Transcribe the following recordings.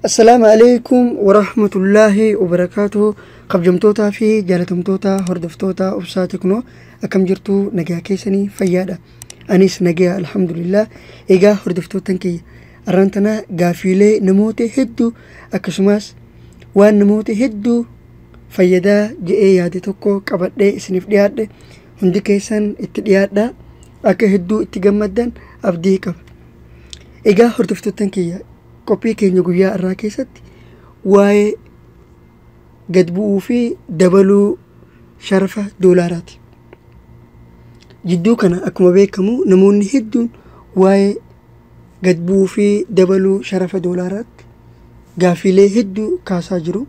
Assalaamu alaikum warahmatullaahi wabarakaatuhu kabjamtootaa fi jaalatamtoota hordoftoota obsaa teknoo akkam jirtu nagaa keessanii fayyaadha anis nagaa alhamdulillah egaa hordoftoottan kiyya arraan tana gaafiilee namoota hedduu akkasumas waan namoota hedduu fayyadaa je'ee yaade tokko qabadhee isiniif dhiyaadhe Hundi keessan itti dhiyaadhaa akka hedduu itti gammaddan abdii qaba. Egaa hordoftoottan kiyya qophii keenya guyyaa irraa keessatti waa'ee gad bu'uu fi dabaluu sharafa doolaaraati. Jidduu kana akkuma beekamu namoonni hedduun waa'ee gad bu'uu fi dabaluu sharafa doolaaraatti gaaffiilee hedduu kaasaa jiru.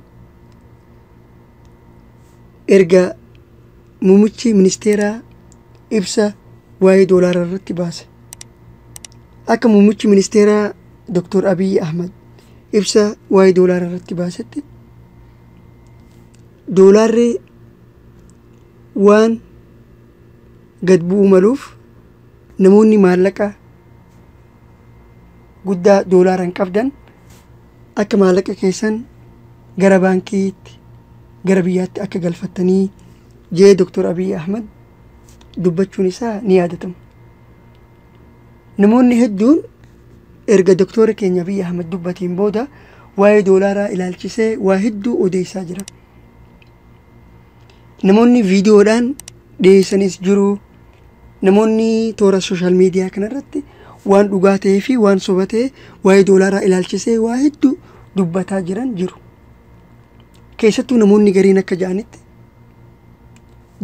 erga muummichi ministeeraa ibsa waa'ee doolaaraa irratti baase akka muummichi ministeeraa Dr. Abiy Ahmad ibsa waa'ee doolaaraa irratti baasetti doolaarri waan gad bu'uu maluuf namoonni maallaqa guddaa doolaaraan qabdan Akka maallaqa keessan gara baankiitti gara biyyaatti akka galfattanii jee Dr. Abiy Ahmad dubbachuun isaa ni yaadatama. Namoonni hedduun erga Dr. keenya Abiy Ahmad dubbateen booda waa'ee doolaaraa ilaalchisee waa hedduu odeessaa jira. Namoonni viidiyoodhaan dhiyeessanis jiru. Namoonni toora sooshaal miidiyaa kanarratti waan dhugaa ta'ee fi waan soba ta'e waa'ee doolaaraa ilaalchisee waa hedduu dubbataa jiran jiru. Keessattuu namoonni gariin akka ja'anitti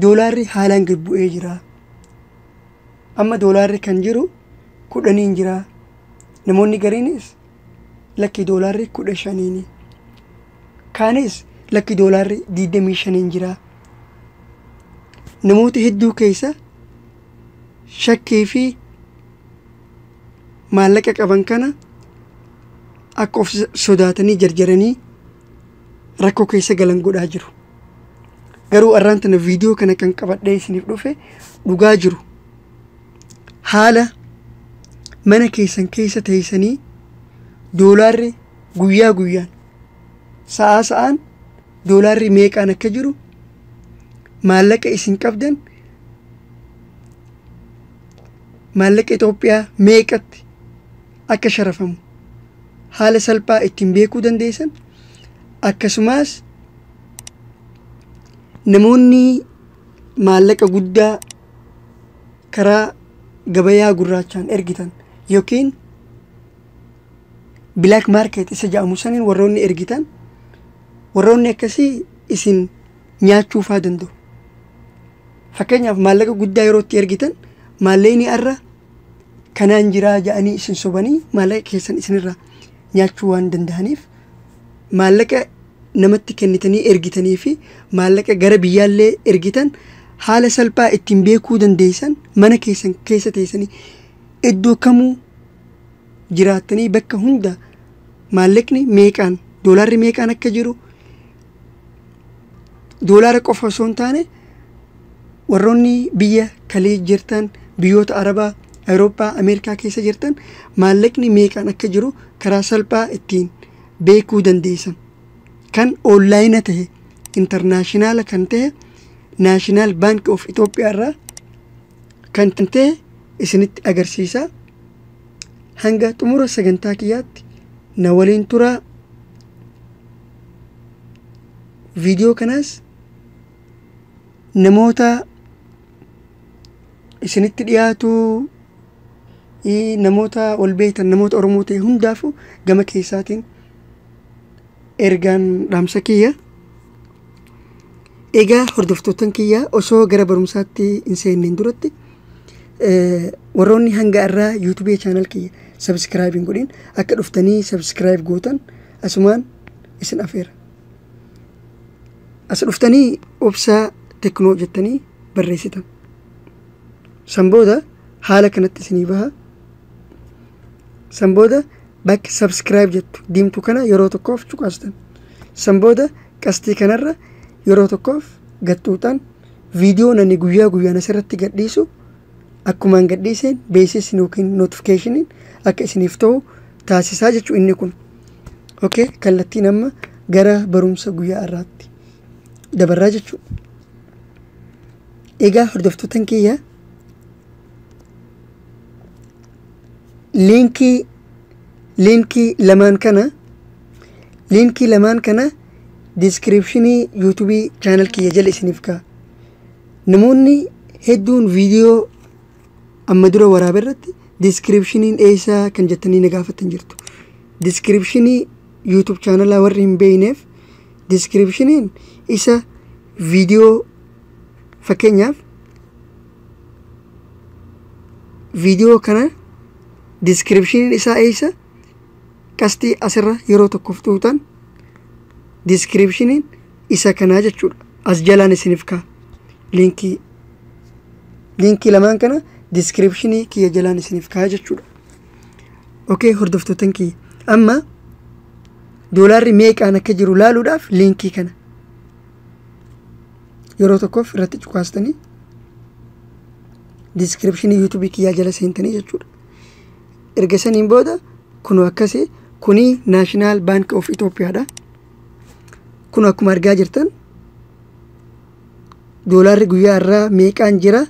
doolaarri haalaan gad bu'ee jira. Amma doolaarri kan jiru kudhaniin jira. Namoonni gariinis lakki doolaarri kudha shaniini. Kaanis lakki doolaarri digdamii shaniin jira. Namoota hedduu keessa shakkii fi maallaqa qaban kana akka of sodaatanii jarjaranii rakkoo keessa galan godhaa jiru. Garuu arraan tana viidiyoo kana kan qabadhee isiniif dhufe dhugaa jiru. haala mana keessan keessa teessanii doolaarri guyyaa guyyaan sa'aa sa'aan doolaarri meeqaan akka jiru maallaqa isin qabdan maallaqa Itoophiyaa meeqatti akka sharafamu haala salphaa ittiin beekuu dandeessan akkasumas namoonni maallaqa guddaa karaa gabayaa gurraachaan ergitan yookiin black market isa jedhamu saniin warroonni ergitan warroonni akkasii isin nyaachuufaa danda'u. Fakkeenyaaf maallaqa guddaa yeroo itti ergitan maallaqni har'a kanaan jiraa ja'anii isin sobanii maallaqa keessan isinirraa nyaachuu waan danda'aniif maallaqa namatti kennitanii ergitanii fi maallaqa gara biyyaallee ergitan haala salphaa ittiin beekuu dandeessan mana keessan keessa teessanii iddoo kamuu jiraattanii bakka hunda maallaqni meeqaan doolaarri meeqaan akka jiru doolaara qofa osoo hin taane warroonni biyya kalii jirtan biyyoota arabaa awurooppaa ameerikaa keessa jirtan maallaqni meeqaan akka jiru karaa salphaa ittiin beekuu dandeessan kan oonlaayina ta'e intarnaashinaala kan ta'e naashinaal baanki of itoophiyaa irraa kan ta'e isinitti agarsiisa hanga xumura sagantaa kiyyaatti na waliin turaa viidiyoo kanaas namoota isinitti dhiyaatu ii- namoota ol beektan namoota oromoo ta'e hundaafuu gama keessaatiin ergaan dhaamsa kiyya egaa hordoftoottan kiyya osoo gara barumsaatti hin seenneen duratti eh, warroonni hanga irraa yuutubii chaanal kiyya sabiskiraayib hin godhin akka dhuftanii sabiskiraayib gootan asumaan isin afeera. As dhuftanii obsaa teknoo jettanii barreessitan. San booda haala kanatti isinii baha. San booda bakka subscribe jettu diimtu kana yeroo tokkoof cuqaastan. San booda qastii kanarra yeroo tokkoof gaxxuuxan viidiyoon ani guyyaa guyyaan asirratti gadhiisu akkumaan gadhiiseen beeksisni yookiin notifikashiniin akka isiniif ta'u taasisaa jechuu inni kun okay kallattiin amma gara barumsa guyyaa irraatti dabarraa jechuu egaa hordoftoota kiyya liinkii liinkii lamaan kana liinkii lamaan kana diskiripshinii yuutubii chaanal kiyya jala isiniif kaa namoonni hedduun viidiyoo amma dura waraabe irratti diskiripshiniin eessaa kan jettanii na gaafattan jirtu. Diskiripshinii YouTube chaanalaa warri hin beekneef diskiripshiniin isa viidiyoo fakkeenyaaf viidiyoo kana diskiripshiniin isaa eessa qastii asirra yeroo tokkoof tuutan diskiripshiniin isa kanaa jechuudha as jalaan isiniif kaa liinkii liinkii lamaan kana diskiripshinii kiyya jalaan isiniif kaa jechuudha okay hordoftoottan kiyya amma doolaarri meeqaan akka jiru laaluudhaaf liinkii kana yeroo tokkoof irratti cukaastanii diskiripshinii yuutuubii kiyyaa jala seentanii jechuudha erga saniin booda kunu akkasii kuni naashinaal baanki of itoophiyaadha kun akkuma argaa jirtan doolaarri guyyaa irraa meeqaan jira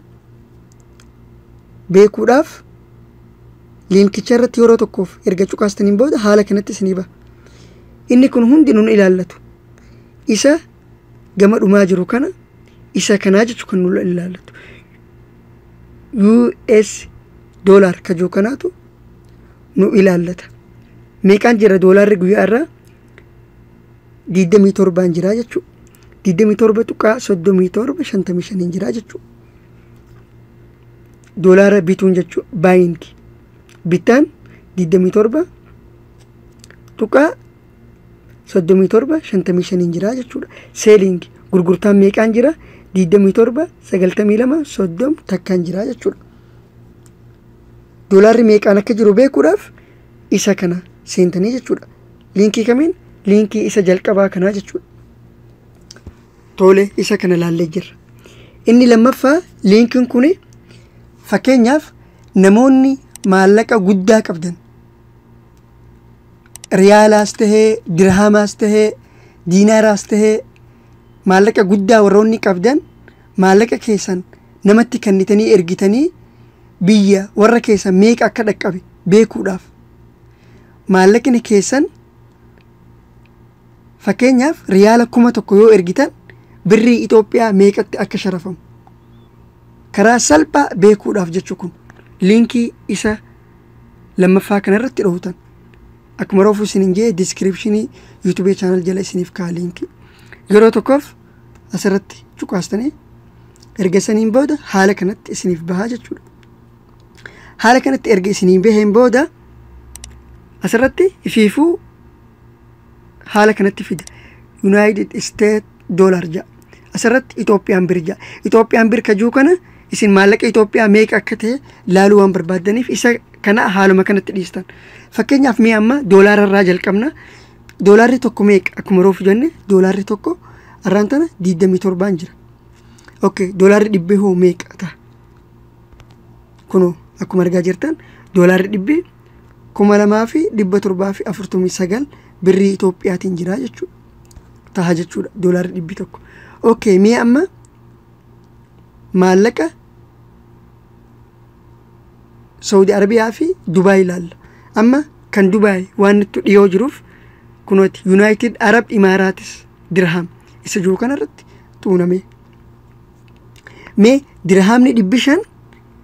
beekuudhaaf liinkicha irratti yeroo tokkoof erga cuqaastaniin booda haala kanatti isinii ba'a. Inni kun hundi nun ilaallatu. Isa gama dhumaa jiru kana isa kanaa jechu kan nun ilaallatu. US doolaar kajoo kanaatu nu ilaallata. Meeqaan jira doolaarri guyyaa irraa digdamii torbaan jiraa jechuu digdamii torba tuqaa soddomii torba shantamii shaniin jiraa jechuu doolaara bituun jechuu baayinki bittaan digdamii torba tuqaa soddomii torba shantamii shaniin jiraa jechuudha seelingi gurgurtaan meeqaan jira digdamii torba sagaltamii lama soddom takkaan jiraa jechuudha doolaarri meeqaan akka jiru beekuudhaaf isa kana seentanii jechuudha. Liinkii kamiin? Liinkii isa jalqabaa kanaa jechuudha. Tole isa kana laallee jirra. Inni lammaffaa liinkiin kun fakkeenyaaf namoonni maallaqa guddaa qabdan riyaalaas tahee dirhaamaas tahee diinaaraas tahee maallaqa guddaa warroonni qabdan maallaqa keessan namatti kennitanii ergitanii biyya warra keessan meeqa akka dhaqqabe beekuudhaaf maallaqni keessan fakkeenyaaf riyaala kuma tokko yoo ergitan birrii Itoophiyaa meeqatti akka sharafamu karaa salphaa beekuudhaaf jechu kun liinkii isa lammaffaa kanarratti dhootan akkuma roofuu isin hin jee diskiripshinii yuutubee chaanal jala isiniif kaa liinkii yeroo tokkoof asirratti cuqaastanii erga saniin booda haala kanatti isiniif bahaa jechuudha. Haala kanatti erga isiniin baheen booda asirratti ifiifuu haala kanatti fida. Yuunaayitid Isteet Doolaar ja'a. Asirratti Itoophiyaan bir ja'a. Itoophiyaan bir kajuu kana isin maallaqa Itoophiyaa meeqa akka ta'e laaluu waan barbaaddaniif isa kana haaluma kanatti dhiistan. Fakkeenyaaf mee amma doolaara irraa jalqabna. Doolaarri tokko meeqa? Akkuma roofu jenne doolaarri tokko arraan tana 27 jira. Ok, doolaarri dhibbee hoo meeqa ta'a? Kunoo akkuma argaa jirtan doolaarri dhibbee kuma lamaa fi dhibba torbaa fi afurtamii sagal birrii Itoophiyaatiin jira jechuudha. Taha jechuudha doolaarri dhibbi tokko. Ok, mee amma maallaqa Saudi Arabiyaa fi Dubaay ilaalla. Amma kan Dubaay waan nutti dhiyoo jiruuf kunooti Yuunaayitid Arab Imaaraatis dirhaam isa jiru kanarratti tuunamee. Mee dirhaamni dhibbi shan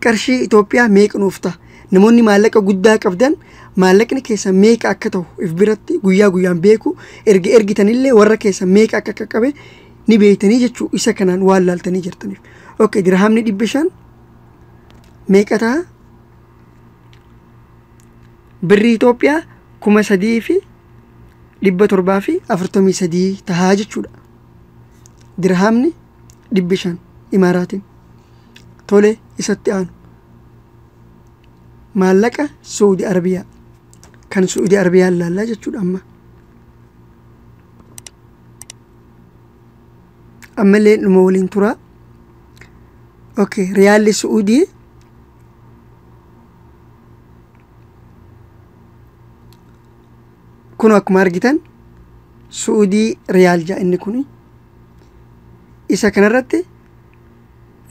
qarshii Itoophiyaa meeqa nuuf ta'a? Namoonni maallaqa guddaa qabdan maallaqni keessan meeqa akka ta'u if biratti guyyaa guyyaan beeku erga ergitanillee warra keessan meeqa akka qaqqabe ni beektanii jechuu isa kanaan waan laaltanii jirtaniif. Ok dirhaamni dhibbi shan meeqa ta'a? Birrii Itoophiyaa kuma sadii fi dhibba torbaa fi afurtamii sadii tahaa jechuudha. Dirhaamni dhibbi shan imaaraatiin. Tole isatti aanu. Maallaqa Suudi Arabiyaa. Kan Suudi Arabiyaa ilaallaa jechuudha amma. Ammallee dhuma waliin turaa. ok riyaalli su'uudii kun akkuma argitan su'uudii riyaal ja'a inni kun isa kanarratti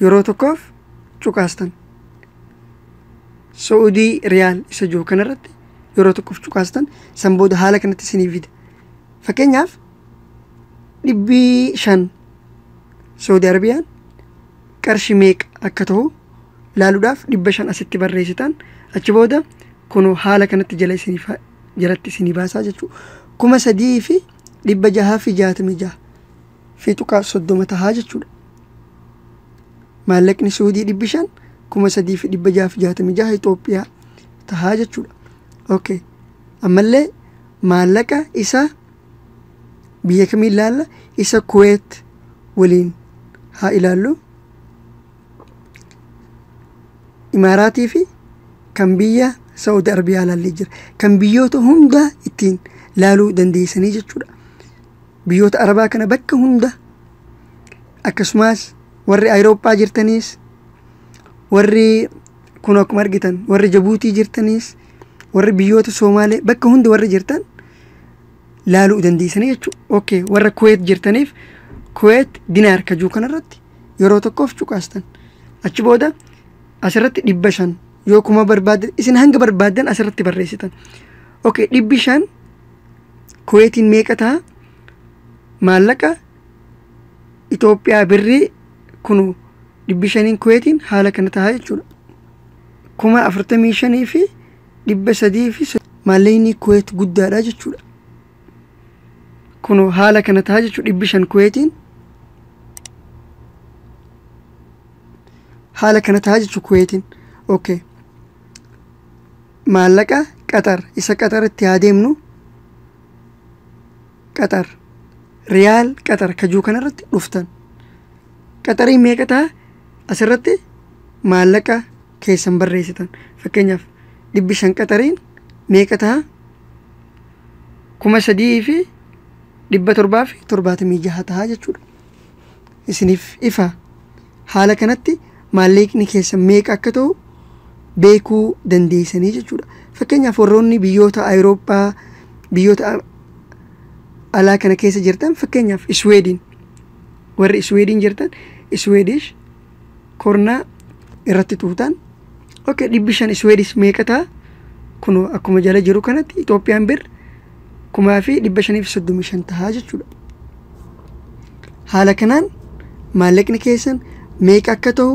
yeroo tokkoof cuqaastan su'uudii riyaal isa jiru kanarratti yeroo tokkoof cuqaastan san booda haala kanatti isiniif fida fakkeenyaaf dhibbii shan Saudi Arabiyaan qarshi meeqa akka ta'u laaluudhaaf dhibba shan asitti barreessitan achi booda kun haala kanatti jala isiniif jalatti isinii baasaa jechuudha. Kuma sadii fi dhibba jahaa fi jaatamii jaha fi tuqaa soddoma tahaa jechuudha. Maallaqni Suudii dhibbi shan kuma sadii fi dhibba jaha fi jaatamii jaha Itoophiyaa tahaa jechuudha. Okay. Ammallee maallaqa isa biyya kamiin laalla isa kuweet waliin haa ilaallu imaaraatii fi kan biyya saudi arabiyaa laallee jira kan biyyoota hundaa ittiin laaluu dandeessanii jechuudha biyyoota arabaa kana bakka hunda akkasumas warri awurooppaa jirtaniis warri Kun akkuma argitan warri Jabuutii jirtaniis warri biyyoota Soomaalee bakka hunda warri jirtan laaluu dandeessanii jechuudha. Okay warra Kuweet jirtaniif Kuweet dinaar kajuu kanarratti yeroo tokkoof cuqaastan. Achi booda asirratti dhibba shan yoo kuma barbaaddan isin hanga barbaaddan asirratti barreessitan. Okay dhibbi shan Kuweetiin meeqa ta'a? Maallaqa Itoophiyaa birrii kunu dhibbi shaniin kuweetiin haala kana tahaa jechuudha. kuma afurtamii shanii fi dhibba sadii fi maallaqni kuweet guddaadha jechuudha. Kunu haala kana tahaa jechuudha dhibbi shan kuweetiin haala kana tahaa jechuudha kuweetiin. Okay. Maallaqa qaxar isa qaxaritti haa deemnu Qaxar. Riyaal qaxar ka jiru kanarratti dhuftan. Qaxariin meeqa ta'a? Asirratti maallaqa keessan barreessitan. Fakkeenyaaf dhibbi shan qaxariin meeqa ta'a? Kuma sadii fi dhibba torbaa fi torbaatamii jaha ta'a jechuudha. isiniif ifa. Haala kanatti maalleeqni keessan meeqa akka ta'u beekuu dandeessanii jechuudha. Fakkeenyaaf warroonni biyyoota Awurooppaa, biyyoota a- alaa kana keessa jirtan fakkeenyaaf Isweediin warri Isweediin jirtan Isweedish kornaa irratti tuutaan ok dhibbi shan isweedis meeqa ta'a kun akkuma jala jiru kanatti itoophiyaan bir kumaa fi dhibba shaniif soddomii shan tahaa jechuudha haala kanaan maallaqni keessan meeqa akka ta'u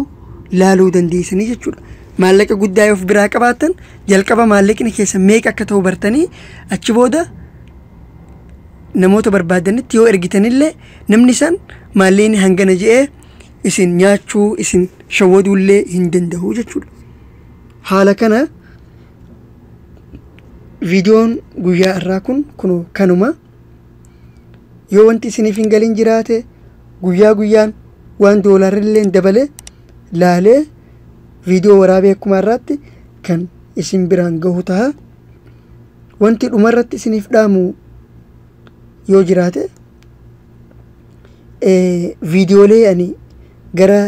laaluu dandeessanii jechuudha maallaqa guddaa yoo of biraa qabaatan jalqaba maallaqni keessan meeqa akka ta'u bartanii achi booda namoota barbaadanitti yoo ergitanillee namni san maallaqni hangana je'ee isin nyaachuu isin shawwaduullee hin danda'u jechuudha. Haala kana viidiyoon guyyaa irraa kun kunoo kanuma. Yoo wanti isiniif hin galin jiraate guyyaa guyyaan waan doolaarrillee dabale laalee viidiyoo waraabee akkuma irraatti kan isin biraan gahu taha. Wanti dhumarratti isiniif dhaamu yoo jiraate viidiyoolee ani gara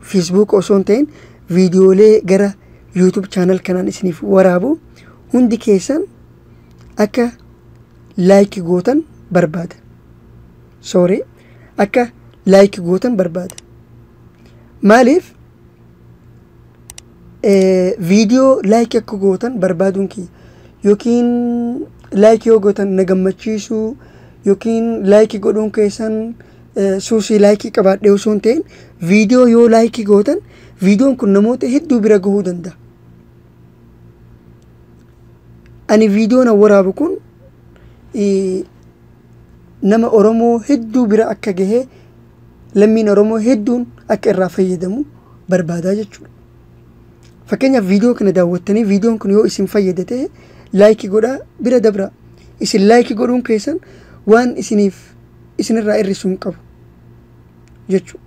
Facebook osoo hin ta'in viidiyoolee gara YouTube channel kanaan isiniif waraabu hundi keessan akka like gootan barbaada. Sorry akka like gootan barbaada. Maaliif Viidiyoo laayikii akka gootan barbaaduun kiyya yookiin laayikii yoo gootan na gammachiisuu yookiin laayikii godhuun keessan suusii laayikii qabaadhee osoo hin ta'in viidiyoo yoo laayikii gootan viidiyoon kun namoota hedduu bira gahuu danda'a. Ani viidiyoon an waraabu kun nama Oromoo hedduu bira akka gahee lammiin Oromoo hedduun akka irraa fayyadamu barbaadaa jechuudha. Fakkeenyaaf viidiyoo kana daawwattanii viidiyoon kun yoo isin fayyade ta'e laayikii godhaa bira dabraa. Isin laayikii godhuun keessan waan isiniif isinirraa hir'isu hin qabu jechuudha.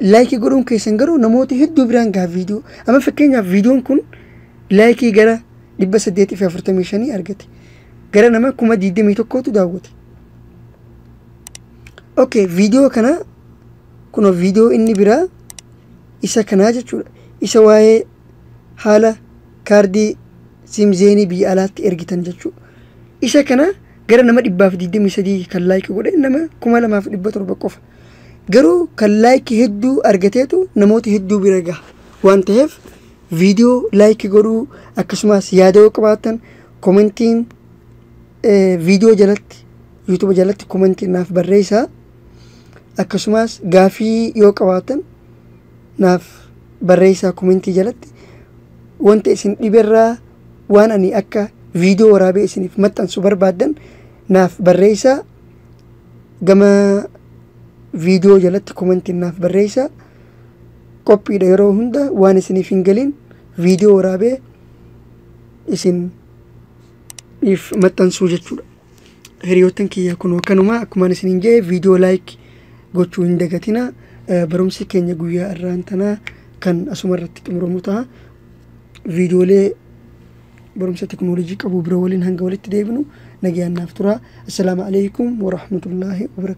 Laayikii godhuun keessan garuu namoota hedduu biraan gaha viidiyoo. Amma fakkeenyaaf viidiyoon kun laayikii gara dhibba saddeetii fi afurtamii shanii argate. Gara nama kuma digdamii tokkootu daawwate. ok viidiyoo kana kuno viidiyoo inni biraa isa kanaa jechuudha isa waa'ee haala kaardii siimzeenii biyya alaatti ergitan jechuudha isa kana gara nama dhibbaaf digdamii sadii kan laayiki godhe nama kuma lamaaf dhibba torba qofa garuu kan laayiki hedduu argateetu namoota hedduu bira gaha waan ta'eef viidiyoo laayiki godhuu akkasumas yaada yoo qabaattan komentiin viidiyoo jalatti yuutuuba jalatti komentii naaf barreessaa akkasumas gaafii yoo qabaatan naaf barreessaa komentii jalatti wanta isin dhiberraa waan ani akka viidiyoo waraabee isiniif maxxansu barbaaddan naaf barreessaa gama viidiyoo jalatti komentii naaf barreessaa qophiidha yeroo hunda waan isiniif hin galiin viidiyoo waraabee isin if maxxansuu jechuudha hiriyoottan kiyya kunoo kanuma akkumaan isiniin jedhe viidiyoo laayik gochuu hin dagatina Eh, barumsi keenya guyyaa irraan tanaa kan asuma irratti xumuramu ta'a viidiyoolee barumsa teknoolojii qabu bira waliin hanga walitti deebinu nagayaan naaf tura assalaamu alaikum warahmatullaahi wabarakaatu